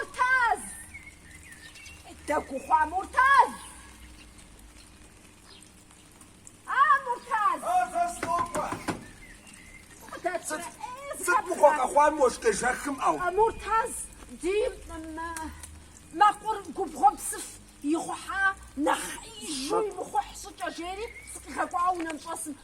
Муртаз! Дэгу ухъуа Муртаз! А, Муртаз! А, сынокӏуэ! Сыт мыгъуэ къэхъуа мы уэшх къежэхым, ӏэу? Муртаз, ди мэкъур губгъуэм псыф ихъухьа нэхъеижу имыхъухь щӏыкӏэ, жери сыкъигъэкӏуа унэм щӏэсым.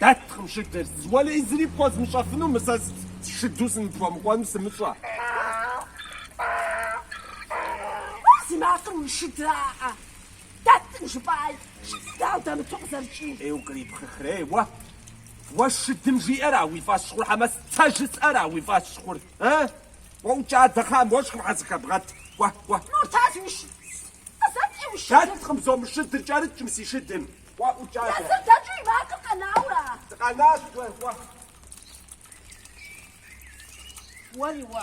Дэткъым шыдыр, уэлэхьи зыри пхуэзмыщӏэфыну, мы сэ шыду сыныпхуэмыкӏуэну сымыщӏэ. Ар зи макъыр уи шыдра, ӏэ. Дэткъым жыпӏай, шыд дауэ дэмыту къызэрыкӏий. Ей, укърипхъыхрей уэ? Уэ шыдым жиӏэра уи фӏэщ хъур хьэмэ сэ жысӏэра уи фӏэщ хъур, э? Уэ ӏукӏ адэ, мы уэшхым щхьэ сыхэбгъэт, кӏуэ, кӏуэ. Муртаз уи шыд. Дэткъым жызоӏэ мы шыдыр кӏэрыкӏ мы си шыдым. Уэ ӏукӏа. Езыр дэкӏыу и макъыр къэнаура? Дыкъэнащ уэ, уэ. Уэри уэ.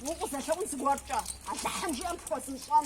Укъызэлъэӏун зыгуэркӏэ, Алыхьым жиӏэм пхуэзмыщӏэн.